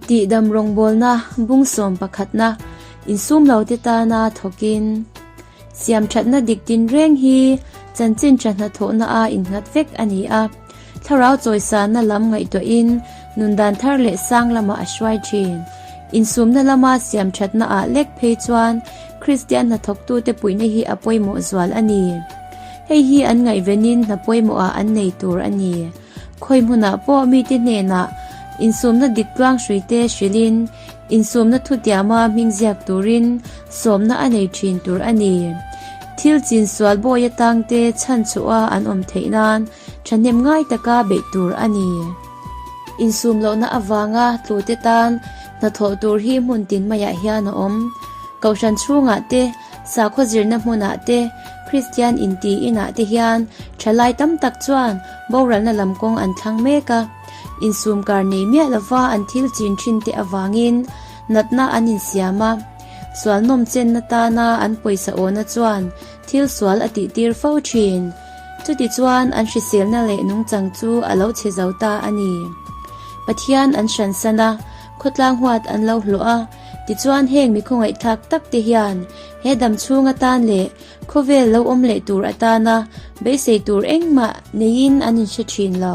Tihdam rawngbawlna bungsawm pakhatna insumlote tana thawkin siamthatna dik tinreng hi chanchin tha hnathawhna a innghat vek a ni a, thlarau chawisana lam ngaihtuahin nun dan thar leh sang lama a hruai thin. Insumna lama siamthatna ah lek phei chuan Kristian hnathawktute puihna hi a pawimawh zual a ni. Hei hi an ngaihvenin hna pawimawh ah an nei tur a ni. Khawi hmunah pawh mite hnenah insumna dik tluang hrui te hrilhin insumna thu tiama hming ziak turin sawmna a nei thin tur a ni. Thil chin sual bawi atang te chhan chhoha an awm theih nan thahnem ngai taka beih tur a ni. Insum lohna avanga tlute tan hnathawh tur hi hmun tin maiah hian a awm. Kohhran chhungah te Sakhaw zirna hmunah te, Kristian inti inah te hian thalai tam tak chuan boralna lam kawng an thlang mek a. Insum kar nei miah lova an thil chin thin te avangin natna an insiam a. Sualnawm chenna tana an pawisa awna chuan thil sual a tihtir fo thin. Chutichuan an hriselna leh nungchang chu a lo che zo ta a ni. Pathian an hran san a. Khawtlang huat an lo hlawh a, tichuan heng mi khawngaihthlak tak te hian he dam chhung atan leh khawvel lo awm leh tur atana beisei tur engmah neiin an inhre thin lo.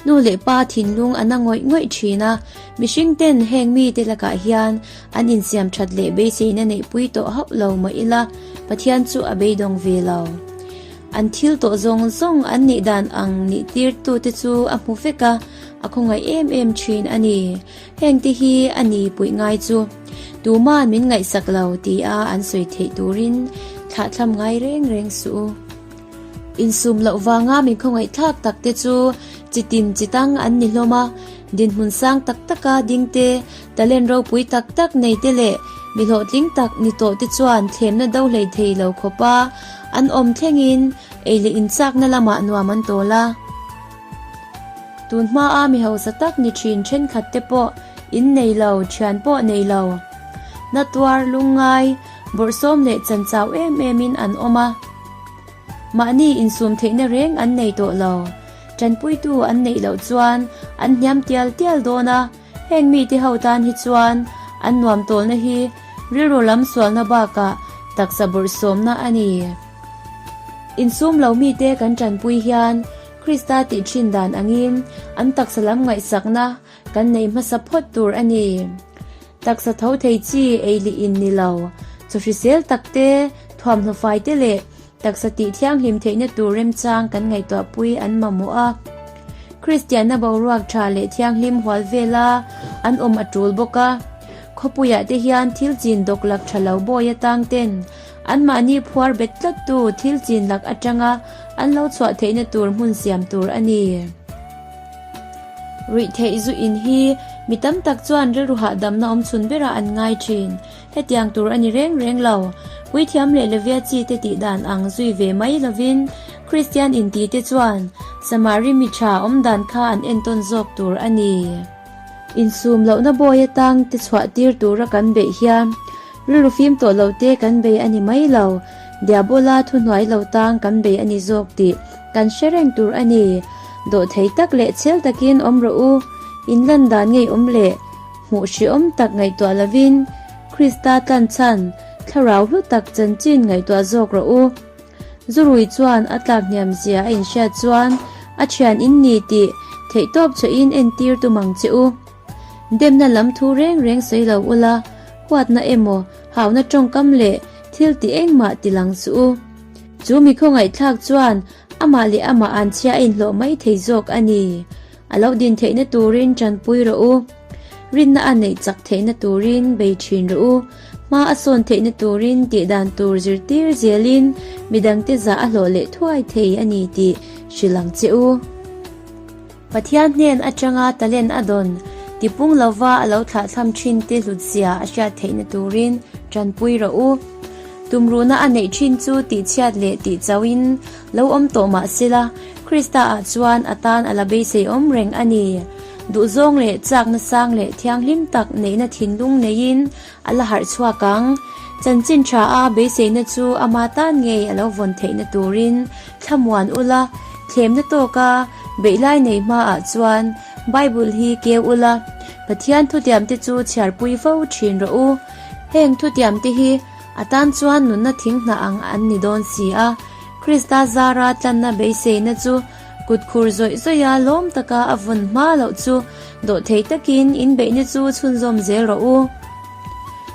Nu leh pa thinlung an a ngawih ngawih thin a, mihring ten heng mite lakah hian an insiam that leh beiseina neih pui tawh hauh lo mah ila Pathian chu a beidawng ve lo. An thil tawh zawng zawng an nih dan ang nih tirtute chu a hmu vek a, A khawngaih em em thin a ni. Hengte hi a ni puih ngai chu. Tuma'n min ngaihsak lo tia an sawi theih turin thlahthlam ngai reng reng suh u. Insum loh vanga min khawngaih thlak tak te chu chitin chitang an ni hlawm a. Dinhmun sang tak taka dingte, talent ropui tak tak neite leh mi hlawhtling tak ni tawh te chuan thlemna do hleithei lo khawpa an awm thlengin ei leh inchakna lamah nuam an tawl a. Tun hmaa mi hausa tak ni thin thenkhat te pawh in nei lo, thian pawh nei lo. Hnathtuar, lungngai, bawrhsawm leh chanchau em em in an awm a. Mahni insum theihna reng an nei tawh lo. Tanpuitu an neih loh chuan an hniam tial tial dawn a, heng mite ho tan hi chuan an nuam tawlna hi rilru lam sualna bakah taksa bawrhsawmna a ni. Insum lo mite kan tanpui hian Krista tih thin dan angin an taksa lam ngaihsakna kan nei hmasa phawt tur a ni. Taksa tho thei chi ei lih in ni lo, chaw hrisel tak te, thuam hnu fai te leh taksa tih thianghlim theihna tur remchang kan ngaihtuah pui an mamawh a. Kristianna boruak tha leh thianghlim hual vela an awm a tul bawk a. Khawpuiah te hian thil chin dawk lak tha lo bawi atang ten, Anmahni phuar bet tlattu, thil chin lak atanga an lo chhuah theihna tur hmun siam tur a ni. Ruih theih zu in hi mi tam tak chuan rilru hahdamna awm chhun berah an ngai thin. Hetiang tur a ni reng reng lo. Puithiam leh Levia chi te tih dan ang zui ve mai lovin Kristian inti te chuan Samari mi tha awmdan kha an entawn zawk tur a ni. Insum lohna bawia tang te chhuah tir tura kan beih hian rilru fim tawh lo te kan bei a ni mai lo. Diabola thu hnuai lo tang kan bei a ni zawk tih kan hre reng tur a ni. Dawh thei tak leh chel takin awm rawh u. In landan ngeiawm leh hmuh hreawm tak ngaihtuah lovin Krista tlanchhan thlarau hlu tak chanchin ngaihtuah zawk rawh u. Zu Rui chuan a tlak hniam zia a inhriat chuan a thian in ni tih theihtawp chhe in en tir tum ang che u. Demna lam thu reng reng sawi lo u la, huatna emaw hauna tawngkam leh thil ti engmah ti lang chu u. Chu mi khawngaihthlak chuan amah leh amah an chhia a inhlawh mai thei zawk a ni. A lo din theihna turin tanpui rawh u. Rinna a neih chak theihna turin bei thin rawh u. Hma a sawn theihna turin tih dan tur zirtir zialin midangte zah a hlawh leh thuai thei a ni tih hrilh ang che u. Pathian hnen atanga talent a dawn tipung lova a lo thlahthlam thinte hlutziah a hriat theihna turin tanpui rawh u. Tumruhna a neih thin chu tihchhiat leh tihchauhin Lo awm tawh mah sela, Krista ah chuan a tan a la beiseiawm reng a ni. Duhzawng leh chakna sang leh thianghlim tak neihna thinlung neiin a la harh chhuak ang. Chanchin tha a beiseina chu amah tan ngei a lo vawn theihna turin thlamuan ula, thlemna tawka beih lai nei hma ah chuan Bible hi keu ula. Pathian thutiamte chu chhiarpui fo thin rawh u. Heng thutiamte hi. A tan chuan nunna thing hnah ang an ni dawn si a, Krista zara tlanna beiseina chu kut khur zawih zawih a lawm taka a vun hma loh chu dawhthei takin inbeihna chu chhunzawm zel rawh u.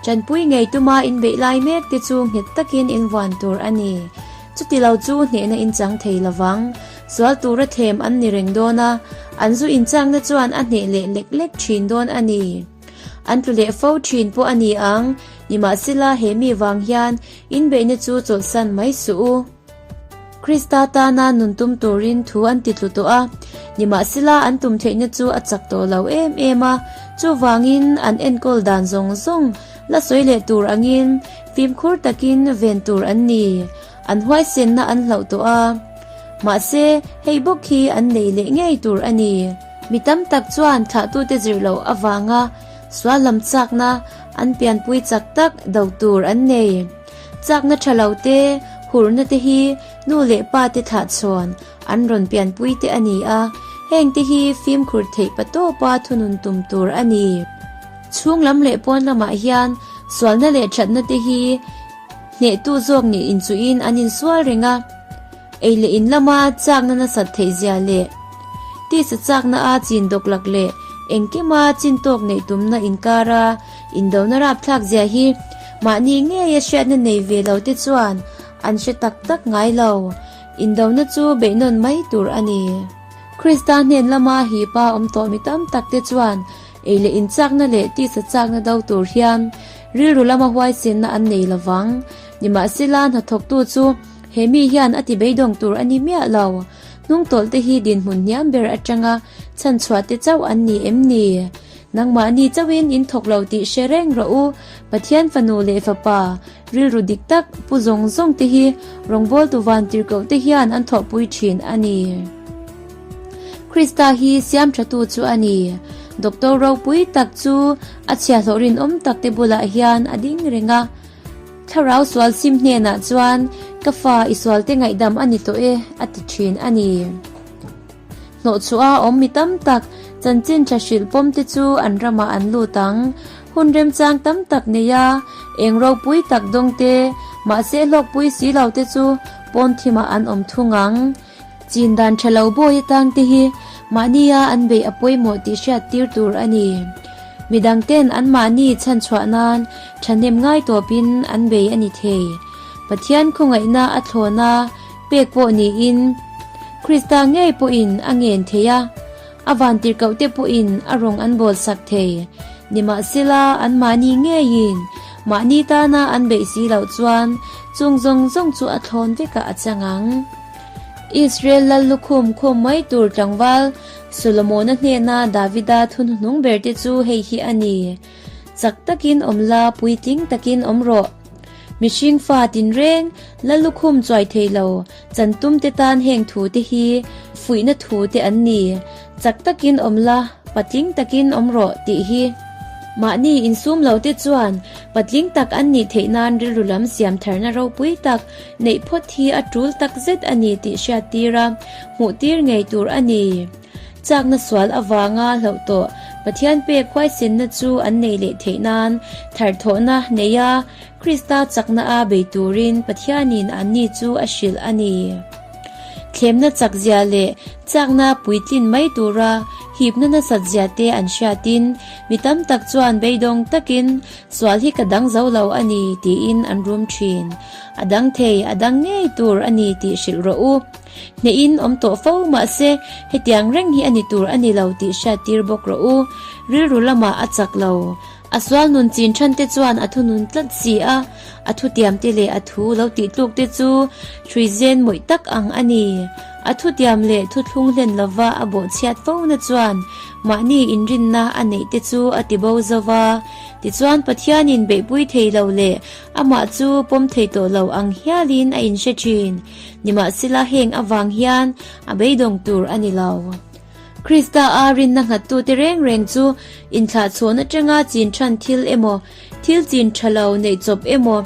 Tanpui ngei tuma inbeih lai mek te chu nghet takin invuan tur a ni. Chuti lo chu hnehna inchang thei lo vang, sual tura thlem an ni reng dawn a, an zu inchakna chuan a hneh leh lek lek thin dawn a ni. An tlu leh fo thin pawh a ni ang. Nimahsela, he mi vang hian inbeihna chu chawlhsan mai suh u. Krista tana nun tum turin thu an titlu tawh a, nimahsela, an tum theihna chu a chak tawh lo em em a. Chuvangin, an enkawl dan zawng zawng la sawi leh tur angin fimkhur takin ven tur an ni. An huaisenna an hlauh tawh a, mahse hei bawk hi an nei leh ngei tur a ni. Mi tam tak chuan thlahtute zir loh avanga sual lam chakna an pianpui chak tak do tur an nei. Chakna tha lo te, hurhna te hi nu leh pa te thlah chhawn an rawn pianpui te a ni a, heng te hi fimkhur theih pa tawpa thunun tum tur a ni. Chhunglam leh pawn lamah hian sualna leh thatna te hi Hnehtu zawk nih in chuh in an in sual reng a, ei leh in lama chakna nasat theih zia leh tisa chakna a chin dawk lak leh engkima chin tawk neih tumna in kar a indona rap thlak zia hi mahni ngei a hriatna nei ve lo te chuan an hre tak tak ngai lo. Indona chu beih nawn mai tur a ni. Krista hnen lama hipa awm tawh mi tam tak te chuan Ei leh in chakna leh tisa chakna do tur hian rilru lama huaichinna an nei lovang. Nimahsela hnathawktu chu he mi hian a ti beidawng tur a ni miah lo. Hnungtawlhte hi dinhmun hniam ber atanga chhanchhuahte chauh an ni em ni? Nangmahni chauhin in thawk lo tih hre reng rawh u. Pathian fanu leh fapa, rilru dik tak, pu zawng zawngte hi rawngbawltu vantirhkohte hian an thawhpui thin a ni. Krista hi Siamṭhatu chu a ni. Doctor ropui tak chu a chhiahhlawh rinawm takte bulah hian a ding reng a, Thlarau sual sim hnenah chuan, Ka Fa, i sualte ngaihdam a ni tawh e, a ti ṭhin a ni. Hnawhchhuaha awm mi tam tak, chanchin ṭha hrilh pawmte chu an ramah an lut ang. Hun remchang tam tak neia eng ropui tak dawngte, mahse hlawkpui si lote chu pawnthimah an awm thung ang. Chin dan tha lo bawi atang te hi mahni a an beih a pawimawh tih hriat tir tur a ni. Mi dang ten anmahni chhan chhuah nan thahnem ngai tawp in an bei a ni thei. Pathian khawngaihna a thlawn a pek pawh niin Krista ngei pawh in a ngen thei a. A van tirhkoh te pawhin a rawng an bawl sak thei. Nimahsela, anmahni ngeiin mahni tana an beih si loh chuan chung zawng zawng chu a thlawn vekah a chang ang. Israel lal lukhum khum mai tur tlangval Solomona hnena Davida thunhnung berte chu hei hi a ni, Chak takin awm la, puitling takin awm rawh. Mihring fa tinreng, la lukhum chuai thei lo, chantumte tan heng thu te hi fuihna thu te an ni. Chak takin awm la, patling takin awm rawh tih hi. Mahni insum lote chuan patling tak an nih theih nan rilru lam siam tharna ropui tak neih phawt hi a tul tak zet a ni tih hriat tira hmuh tir ngei tur a ni. Chakna sual avanga hlauh tawh. Pathian pek huaisenna chu an nei leh theih nan thar thawhna nei a, Krista chakna a bei turin Pathianin an ni chu a hrilh a ni. Thlemna chak zia leh chakna puitlin mai tura hipna nasat zia te an hriatin mi tam tak chuan beidawng takin sual hi ka dang zo lo a ni tiin an rum thin. A dang thei, a dang ngei tur a ni tih hrilh rawh u. Hnehin awm tawh fo mahse, hetiang reng hi a ni tur a ni lo tih hriat tir bawk rawh u. Rilru lamah a chak lo. A sual nun chin chhan te chuan a thu nun tlat si a, a thu tiam te leh a thu lo tih tluk te chu hrui zen mawih tak ang a ni. A thu tiam leh thu thlung hlen lova a bawh chhiat fo na chuan mahni inrinna a neih te chu a ti bo zo va. Tichuan Pathianin beihpui thei lo leh amah chu pawm thei tawh lo ang hialin a inhre thin. Nimahsela heng avang hian a beidawng tur a ni lo. Krista a rinna nghattute reng reng chu inthlahchhawn atanga chin chhan thil emaw, thil chin tha lo neih chawp emaw,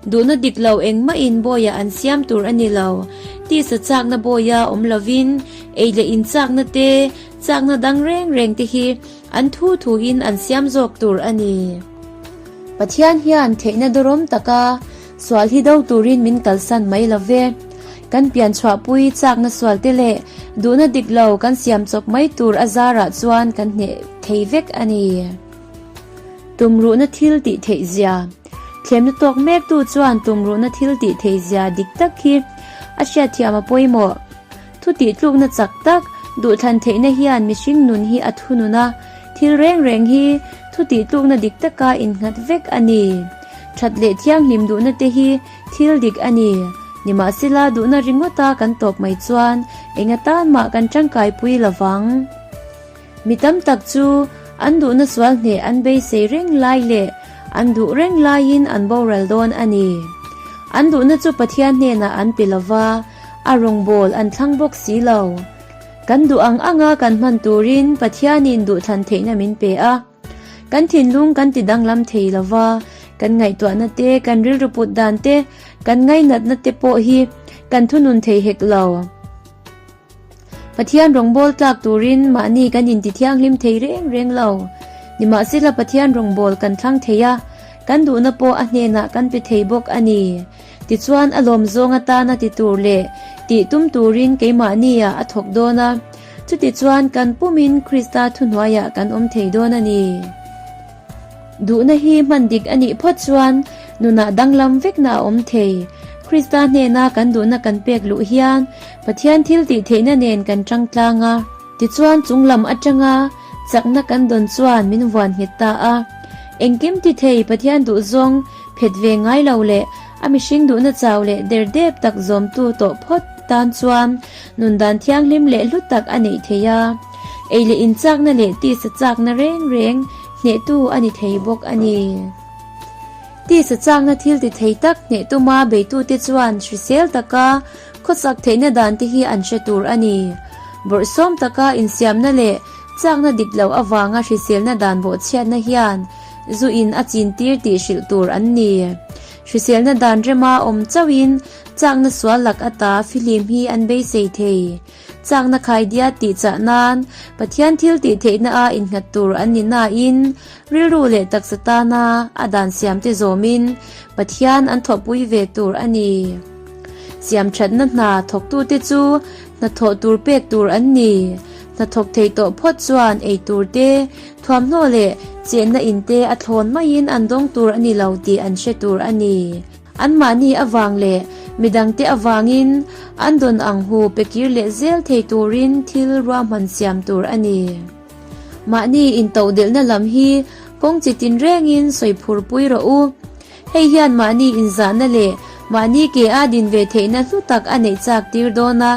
duhna dik lo engmahin bawiah an siam tur a ni lo. Tisa chakna bawia awm lovin, ei leh in chakna te, chakna dang reng reng te hi an thu thu in an siam zawk tur a ni. Pathian hian theihna dawrawm taka. Sual hi do turin min kalsan mai lo ve. Kan pian chhuahpui chakna sual te leh duhna dik lo kan siam chawp mai tur a zarah chuan kan hneh thei vek a ni. Tumruhna thil tih theihzia. Thlemna tawk mektu chuan tumruhna thil tih theihzia dik tak hi a hriatthiam a pawimawh. Thutih tlukna chak tak, Duhthlan theihna hian mihring nun hi a thunun a, thil reng reng hi thutih tlukna dik taka innghat vek a ni. That leh thianghlim duhna te hi thil dik a ni. Nimahsela, duhna ringawta kan tawp mai chuan eng atan mah kan tangkaipui lo vang. Mi tam tak chu an duhna sual hneh an beisei reng lai leh an duh reng laiin an boral dawn a ni. An duhna chu Pathian hnenah an pe lova, a rawngbâwl an thlang bawk si lo. Kan duh ang anga kan hman turin Pathianin duhthlan theihna min pe a. Kan thinlung kan ti danglam thei lova, kan ngaihtuahnate, kan rilru put dante, kan ngainatnate pawh hi kan thunun thei hek lo. Pathian rawngbâwl tlâk tûrin mahni kan inti thianghlim thei rêng rêng lo. Nimahsela Pathian rawngbâwl kan thlang thei a, kan duhna pawh a hnênah kan pe thei bawk a ni. Tichuan, a lâwm zâwng atâna ti tûr leh tih tum tûrin keimahnia a thawk dâwn a. Chutichuan, kan pumin Krista thuhnuaiah kan awm thei dâwn a ni. Duhna hi hman dik a nih phawt chuan nunah danglam vekna a awm thei. Krista hnena kan duhna kan pek luh hian Pathian thiltih theihna nen kan tangtlang a. Tichuan chunglam atanga chakna kan dawn chuan min vuan nghet ta a. Engkim ti thei Pathian duh zawng phet ve ngai lo leh a mihring duhna chau leh der dep tak zawmtu tawh phawt tan chuan Nundan thianghlim leh hlu tak a neih thei a, ei leh inchakna leh tisa chakna reng reng hnehtu a ni thei bawk a ni. Tisa chakna thil ti thei tak hneh tuma beitute chuan hrisel taka khawchak theihna dante hi an hre tur a ni. Bawrhsawm taka insiamna leh chakna dip loh avanga hriselna dan bawhchhiatna hian zu in a chintir tih hrilh tur an ni. Hriselna dan rema awm chauhin chakna sual lak ata filim hi an beisei thei. Chakna khaidia tih chah nan Pathian thil tih theihna a innghat tur an ni nain rilru leh taksa tana a dan siamte zawmin Pathian an thawhpui ve tur a ni. Siamthatna hna thawktute chu hnathawh tur pek tur an ni. Hnathawk theih tawh phawt chuan ei tur te, thuamhnaw leh chenna in te a thlawn maiin an dawng tur a ni lo tih an hre tur a ni. Anmahni avang leh midang te avangin an dawn ang hu pe kir leh zel thei turin thil ruahman siam tur a ni. Mahni intoh delhna lam hi kawng chi tinrengin sawi phur pui rawh u. Hei hian mahni inzahna leh mahni ke a din ve theihna hnu tak a neih chak tir dawn a,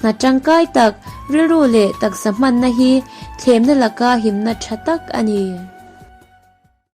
hnat tangkai tak, rilru leh taksa hmanna hi thlemna laka himna tha tak a ni.